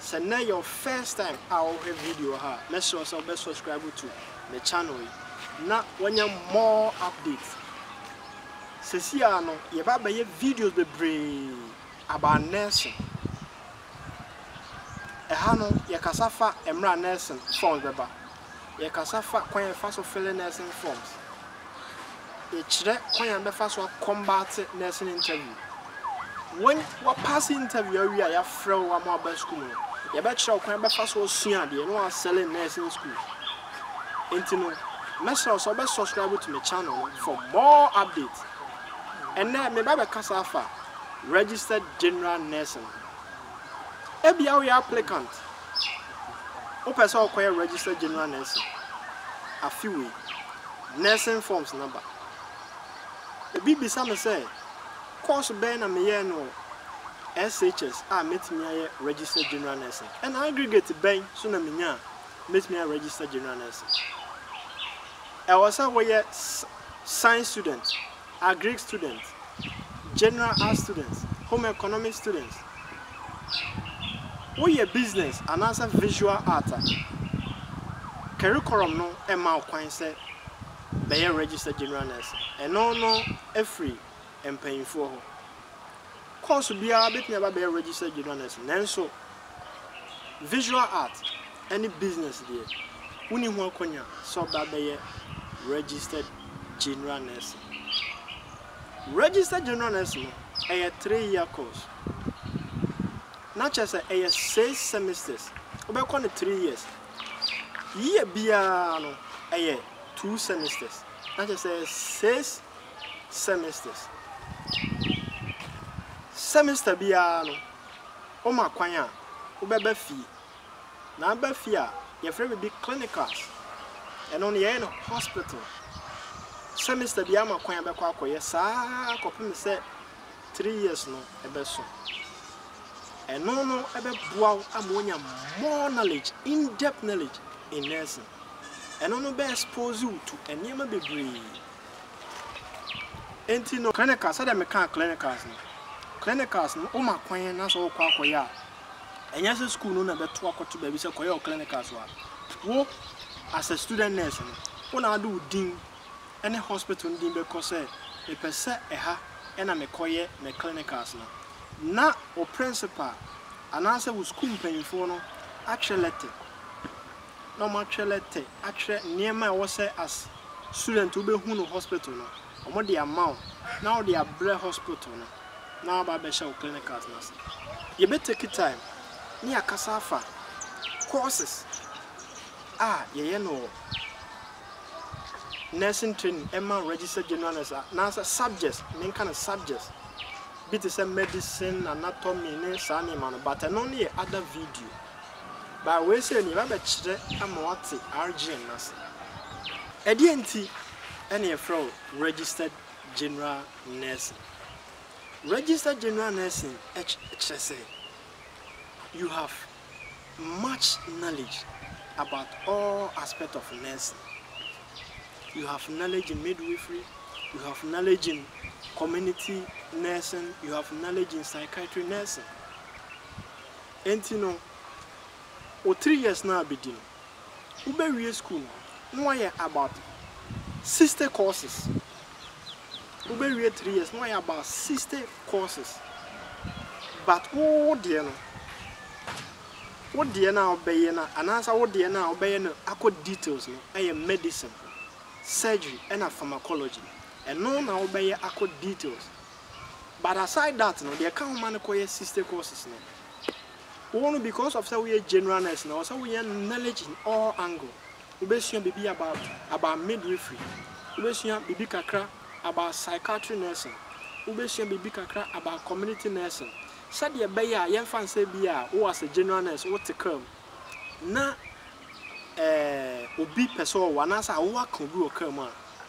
Sɛ nnɛ yɛ wo first time a wohwɛ video ha a, mɛsrɛ wo sɛ wobɛ subscribe to me channel yi na woanya more updates. Sɛsi ara no, yɛba abɛyɛ videos bebree about nursing. Ɛha no, yɛkasa fa mmerɛ a nursing forms bɛba. Yɛkasa fa kwan a yɛfa so fele nursing forms. Yɛkyerɛ kwan a yɛbɛfa so akɔmbate nursing interview. When woapase interview awie a yɛafrɛ wo ama woaba sukuu mu no, yɛbɛkyerɛ wo kwan a wobɛfa so asua adeɛ na woasɛle nursing school. Enti no, mɛsrɛ wo sɛ wobɛ subscribe to me channel no for more updates. Ɛnnɛ, meba abɛkasa afa registered general nursing ho. Ebia woyɛ applicant, wopɛ sɛ wokɔyɛ registered general nursing afe wei, nursing forms no aba. Obi bisa me sɛ, course bɛn na meyɛɛ no wɔ SHS a mɛtumi ayɛ registered general nursing? Ɛna aggregate bɛn nso na menya a mɛtumi ayɛ registered general nursing? Ɛwɔ sɛ woyɛ science student. Agric students, General Arts students, Home Economics students, woyɛ business anaasɛ visual art a, curriculum no mma wo kwan sɛ bɛyɛ registered general nurse. Ɛno no firi mpanyimfoɔ hɔ. Course biara bɛtumi aba abɛyɛ registered general nurse nanso, Visual Art ne Business deɛ, wonni ho akwannya sɛ ɔbɛ abɛyɛ Registered General Nurse. Registered General Nurse no, ɛyɛ three year course. Na kyerɛ sɛ ɛyɛ six semesters. Wobɛkɔ no three years. Year biara no, ɛyɛ two semesters. Na kyerɛ sɛ ɛyɛ six semesters. Semester biara no, Wɔma kwan a wobɛba fie, na aba fie a yɛfrɛ biribi clinicals, ɛno no yɛyɛ no hospital. Semester biara ma kwan a bɛkɔ akɔyɛ saa ara kɔpem sɛ three years no bɛso. Ɛno no bɛboa wo ama woanya more knowledge, in depth knowledge in nursing. Ɛno no bɛ expose wo to nneɛma bebree Enti no, clinicals, sɛdeɛ mekaa clinicals no, clinicals no, woma kwan na sɛ wokɔ akɔyɛ a, ɛnyɛ sɛ sukuu no na ɛbɛto akɔto baabi sɛ kɔyɛ wo clinicals wɔ ha. Wo, as a student nurse no, wo na wode wo din ne hospital no din bɛkɔ sɛ, mepɛ sɛ ɛha na mekɔyɛ me clinicals no, na wo principal anaasɛ wo sukuu mpanyimfoɔ no atwerɛ lɛtɛ. na ɔmo atwerɛ lɛtɛ atwerɛ nneɛma a ɛwɔ sɛ as student wo bɛ hu no hospital no ɔmo de ama wo na wo de abrɛ hospital no na waba abɛhyɛ wo clinicals no ase yɛ bɛ take time ne yɛ akasa afa courses a yɛ yɛ no wɔ nursing training ɛma registered general nurse a na sɛ subjects me nka no subjects bi te sɛ medicine anatomy ne saa nneɛma no but ɛno ne yɛ other video Ba wei sɛ nie, mabɛkyerɛ ama woate RGN no ase. Ɛdeɛn nti na yɛfrɛ wo Registered General Nursing? Registered General Nursing kyerɛ sɛ you have much knowledge about all aspect of nursing. You have knowledge in midwifery, you have knowledge in community nursing, you have knowledge in psychiatry nursing. Enti no, wo three years no a bɛdi no, wobɛwie sukuu no na woayɛ about sixty courses. Wobɛwie three years na woayɛ about sixty courses. But wo wo deɛ no, wo deɛ no a wobɛyɛ no anaasɛ wo deɛ no a wobɛyɛ no akɔ details no yɛ medicine, surgery ɛna pharmacology. Ɛno na wobɛyɛ akɔ details. but aside that no deɛ ɛka ho ma no kɔ yɛ sister courses no wo no because of sɛ woyɛ general nurse na ɔsɛ woyɛ knowledge in all angle wobɛsua biribi about about midwifery wobɛsua biribi kakra about psychiatry nursing wobɛsua biribi kakra about community nursing sɛdeɛ ɛbɛyɛ a yɛmfa nsɛ bi a wo as a general nurse wote kra mu na eh, obi pɛ sɛ ɔwo anaasɛ awowa ka obi wɔ kra mu a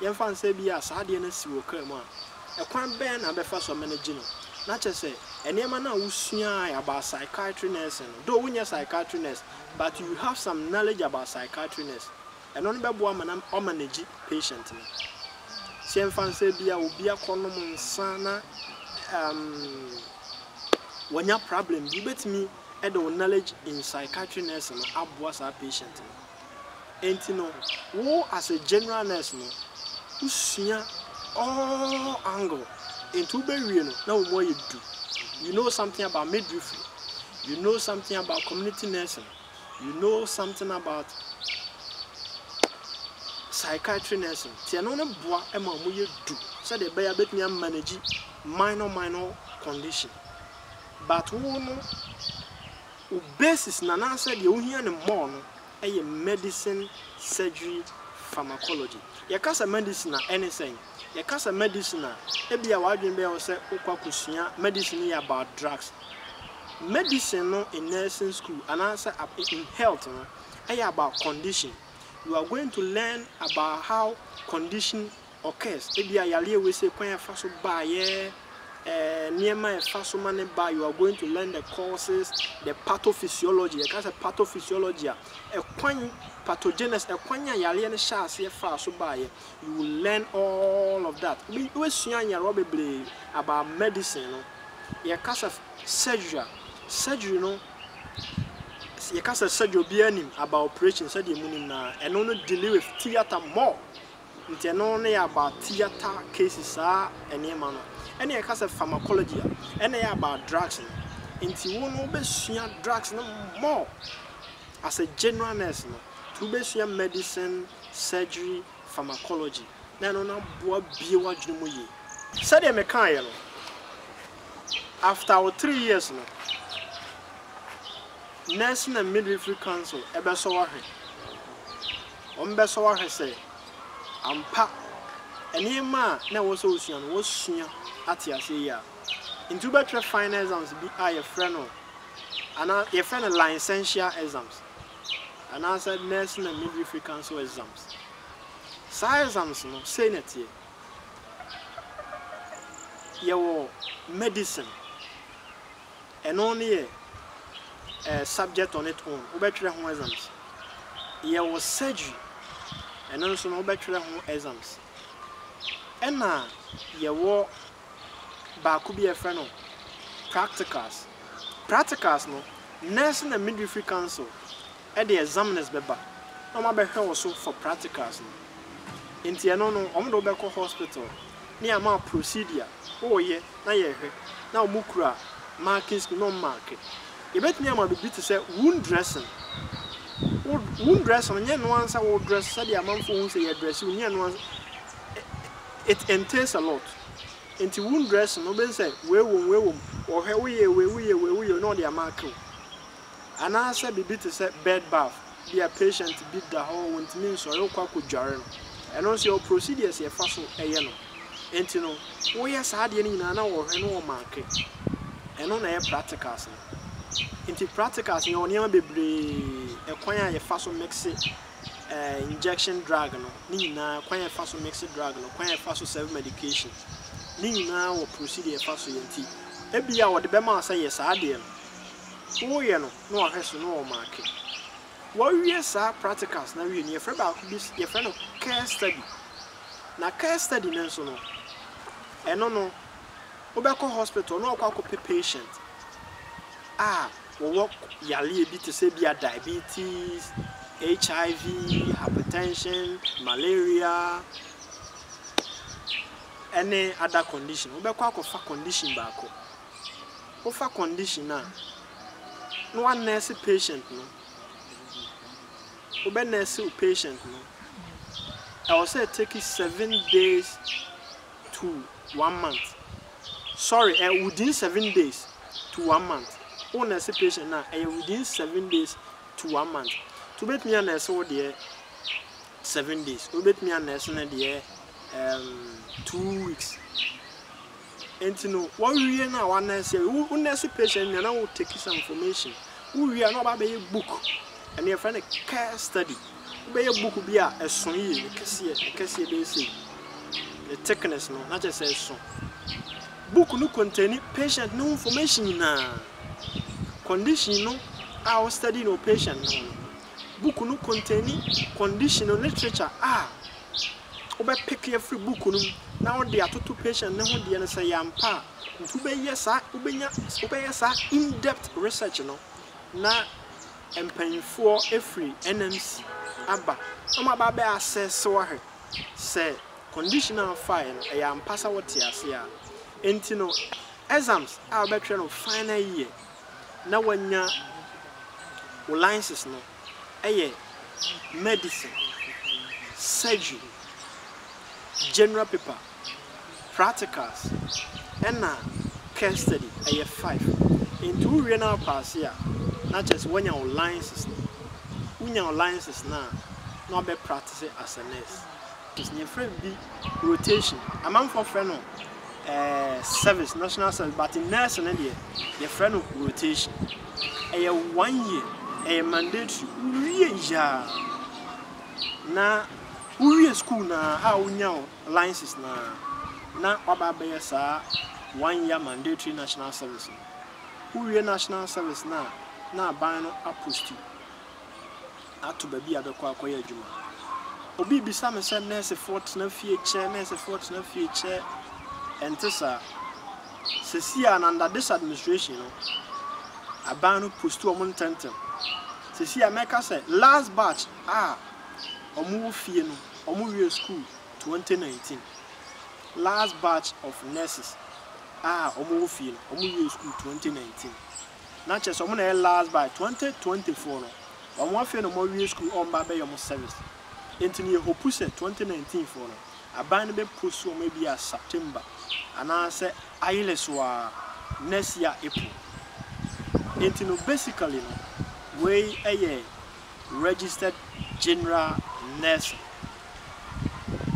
Yɛmfa no sɛ ebia saa adeɛ no asi wo kra mu a, ɛkwan bɛn na wobɛfa so amanegye no? Na kyerɛ sɛ, nneɛma no a wosuae about psychiatry nursing no, though wonyɛ psychiatry nurse, but you have some knowledge about psychiatry nurse, ɛno no bɛboa ama na woamanegye patient no. So yɛmfa no sɛ ebia obi akɔnom nsa na um, wanya problem bi, wobɛtumi de wo knowledge in psychiatry nursing no aboa saa patient no. Enti no wo as a general nurse no wosua all angle enti wobɛwie no na wo mu ayɛ du. You know something about midwifery, you know something about community nursing, you know something about psychiatry nursing nti ɛno no boa ma ɔmo yɛ du sɛdeɛ ɛbɛyɛ a bɛtumi a manage minor minor condition but wo no Wo basis no anaasɛ deɛ wohia no more no yɛ Medicine, Surgery, Pharmacology. Yɛka sɛ Medicine a, ɛne sɛn? Yɛka sɛ Medicine a, ebia w'adwene bɛyɛ wo sɛ wokɔ akɔsua Medicine no yɛ about drugs. Medicine no in Nursing School anaasɛ in Health no yɛ about condition. You are going to learn about how condition Occurs, Ebia yareɛ wei sɛ kwan a ɛfa so baeɛ, eh, nneɛma a ɛfa so ma ne ba, you are going to learn the causes, the pathophysiology. Yɛka sɛ pathophysiology a, ɛkwan, pathogenesis, ɛkwan a yareɛ no hyɛ aseɛ faa so baeɛ. You will learn all of that. Wobe- Wobɛsua nyarewa bebree about medicine no. Yɛka sɛ surgery a, surgery no, yɛka sɛ surgery obiara nim about operation sɛdeɛ mu nim no a, ɛno no dealing with theatre more. Nti ɛno no yɛ about theatre cases saa ɛneɛma no. Ɛna yɛka sɛ pharmacology a, ɛna ɛyɛ about drugs no. Nti wo no wobɛsua drugs no more as a general nurse no. Nti wobɛsua medicine, surgery, pharmacology na ɛno no aboa abue w'adwene mu yie. Sɛdeɛ mekaeɛ no, after wo three years no, Nursing and Midwifery Council bɛsɔ wo ahwɛ. wɔbɛsɔ wo ahwɛ sɛ ampa nneɛma a na ɛwɔ sɛ wosua no, woasua ate aseɛ yie a. Nti wobɛtwerɛ final exams bi a yɛfrɛ no anaa yɛfrɛ no licential exams anaasɛ nursing and midwifery council exams. Saa exams no, sei na ɛteɛ. Yɛwɔ medicine. Ɛno no yɛ eh subject on it own, wobɛtwerɛ ho exams. Yɛwɔ surgery, ɛno nso no wobɛtwerɛ ho exams. Ɛna yɛwɔ baako bi a yɛfrɛ no practicals. Practicals no, Nursing and Midwifery Council de examines bɛba na wɔn abɛhwɛ wo so for practicals no nti ɛno no wɔn de wo bɛkɔ hospital ne ama wo procedure wo yɛ na yɛ hwɛ na wɔn kura marking scheme na wɔn marke yɛbɛtumi ama biribi te sɛ wound dressing wo wound dressing nyɛ no ansa wo dress sɛdeɛ amanfoɔ hu sɛ yɛ dress wo nyɛ no ansa it entails a lot nti wound dressing wobɛhu sɛ wei wom wei wom wɔhwɛ woyɛ wei woyɛ wei woyɛ na wɔde amarke wo. Anaasɛ biribi te sɛ bed bath, bia patient bi da hɔ ɔntumi nsɔre wokɔ akɔdware no, ɛno nso yɛwɔ procedures yɛfa so yɛ no. Ɛnti no woyɛ saa adeɛ no nyinaa na wɔhwɛ na wɔ marke. Ɛno na ɛyɛ practicals no. Ɛnti practicals no yɛwɔ nneɛma bebree, ɛkwan a yɛfa so mixe eh, injection drug no, ne nyinaa, kwan a yɛfa so mixe drug no, kwan a yɛfa so serve medication, ne nyinaa wɔ procedure yɛfa so yɛ nti, ebia wɔde bɛma wo sɛ yɛ saa adeɛ no. Woyɛ no na wahwɛ so na ɔmake. Wowie saa practicals no wie no yɛfrɛ baako bi yɛfrɛ no case study. Na case study no nso no ɛno no wobɛkɔ hospital na wakɔ akɔpɛ patient a wɔwɔ yareɛ bi te sɛ ebia diabetes, HIV, hypertension, malaria ɛne other condition. Wobɛkɔ akɔfa condition baako wofa condition a na wa nurse patient no wobɛ nurse wo patient no ɛwɔ sɛ take seven days to one month sorry ɛ within seven days to one month wo nurse patient no a ɛyɛ within seven days to one month nti wobɛtumi a nurse wo deɛ seven days wobɛtumi a nurse no deɛ um, two weeks. Nti no wɔ wie no a wɔ nan sie wo wo nurse patient nua na wo take some information wo wie a na wɔ ba bɛ yɛ book ɛno yɛ frɛ no care study wo bɛ yɛ book bi a ɛso yie ne kɛseɛ ne kɛseɛ bɛ yɛ sei ne thickness no na kyɛ sɛ ɛso book no contain patient no information nyinaa condition no a wɔ study no patient no book no contain condition no literature a wobɛpeke afiri book no mu na wode atoto patient no ho deɛ no sɛ ɛyɛ ampa a, nti wobɛyɛ saa, wobɛnya, wobɛyɛ saa in-depth research no na mpanyinfoɔ afiri NMC aba na wɔn aba abɛ assess wo ahwɛ sɛ condition a wofaeɛ no ɛyɛ ampa sɛ wote aseɛ a. Nti no exams a wobɛtwerɛ no final year na wanya wo license no, yɛ medicine, surgery, general paper, practicals ɛna case study, ɛyɛ five. Nti wo wie na wo paase a na kyerɛ sɛ w'anya wo license no, wo nya wo license no a na w'abɛ practice as a nurse. Yɛfrɛ bi rotation, amanfoɔ frɛ no service, national service but nurse no deɛ yɛfrɛ no rotation. Ɛyɛ one year, ɛyɛ mandatory, wowie yaa na wowie school no ara a wonya wo license no ara na waba abɛyɛ saa one year mandatory national service no. Wowie national service no a na aban no a post you. ato baabi a bɛkɔ akɔyɛ adwuma. Obi rebisa me sɛ nɛɛsefoɔ tena fie kyɛ, nɛɛsefoɔ tena fie kyɛ. Ɛnte saa. Seesei a, under this administration no, aban no posti wɔn ntɛntɛm. Seesei a mɛka sɛ last batch a wɔwɔ fie no, wɔwiee sukuu 2019. Last batch of nurses a wɔwɔ fie no, wɔwiee sukuu 2019. na kyerɛ sɛ ɔmo na ɛyɛ last by twenty twenty four no ɔmo afei na ɔmo awie sukuu ɔmo ba abɛyɛ ɔmo service nti no yɛ hopu sɛ twenty nineteen foɔ no aban no bɛ post ɔmo ebia September anaa sɛ ayele so aa next year April nti no basically no wei ɛyɛ registered general nursing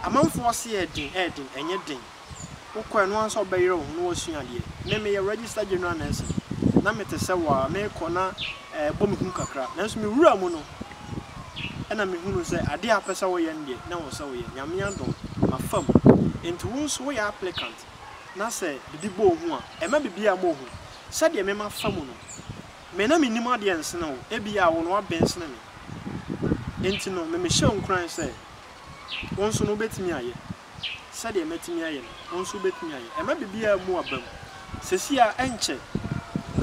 amanfoɔ se ɛɛden ɛɛden ɛnyɛ den. Wokɔ a, ɛno ara nso wobɛyere wo ho na woasua adeɛ. Me, meyɛ registered general nursing. Na mete sɛ wo ara, merekɔ na ɛbɔ me hu kakra. Nanso mewuraa mu no, ɛna mehunuu sɛ adeɛ a wopɛ sɛ woyɛ no deɛ, na ɛwɔ sɛ woyɛ. Nyame adom, mafa mu. Enti wo nso woyɛ applicant na sɛ biribi bɔ wo hu a, ɛmma biribiara mmɔ wo hu. Sɛdeɛ me mafa mu no, me na menim adeɛ nsene wo. Ebia wo no woaben sene me. Enti no, me mehyɛ wo nkuran sɛ wo nso no wobɛtumi ayɛ. Sɛdeɛ matumi ayɛ no, wo nso wobɛtumi ayɛ. Ɛma biribiara mu aba mu. Seesei ara, ɛnkyɛ,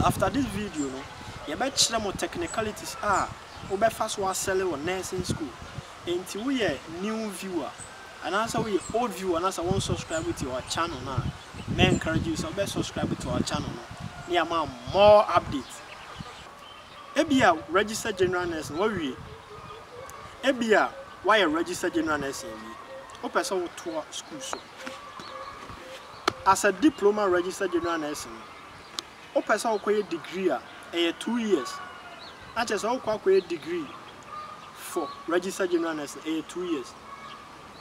after this video no, yɛbɛkyerɛ mo technicalities a wobɛfa so asɛle wɔ nursing school. Enti woyɛ new viewer, anaasɛ woyɛ old viewer na sɛ wonsubscribe to our channel no a, mɛ encourage wo sɛ wobɛ subscribe to our channel no na yɛama wo more updates. Ebia register general nurse no wawie. Ebia wayɛ register general nursing awie. Wopɛ sɛ wotoa sukuu so. As a diploma register general nurse no, wopɛ sɛ wokɔyɛ degree a, ɛyɛ two years. Na kyerɛ sɛ wokɔ akɔyɛ degree for register general nurse no, ɛyɛ two years.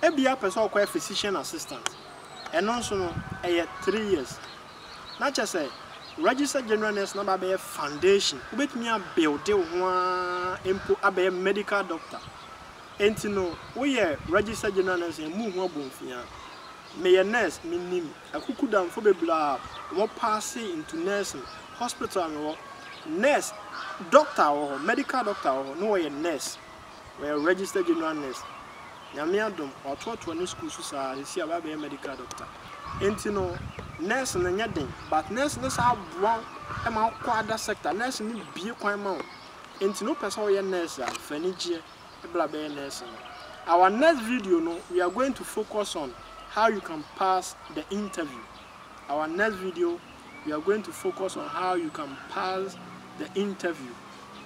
Ebia wopɛ sɛ wokɔyɛ physician assistant. Ɛno nso no, ɛyɛ three years. Na kyerɛ sɛ Register General Nurse no aba abɛyɛ foundation, wobɛtumi a builde wo ho ara mpo abɛyɛ Medical Doctor. Ɛnti no woyɛ Register General Nurse a ɛmmu wo ho abomfiaa. Meyɛ Nurse, menim akukudamfo bebree a wɔn paase into Nursing. Hospital a mewɔ, Nurse, Doctor wɔ hɔ, Medical Doctor wɔ hɔ, na wɔyɛ Nurse. Ɔyɛ register general nurse. Nyame adom watoatoa ne school so saa sisi a wabɛyɛ medical doctor. Enti no nurse no nyɛ den but nurse no saa boa wo ma wokɔ other sector. Nurse no bue kwan ma wo. Enti no wopɛ sɛ woyɛ nurse a fa anigyeɛ bra bɛyɛ nurse no. Our next video no we are going to focus on how you can pass the interview. Our next video we are going to focus on how you can pass the interview.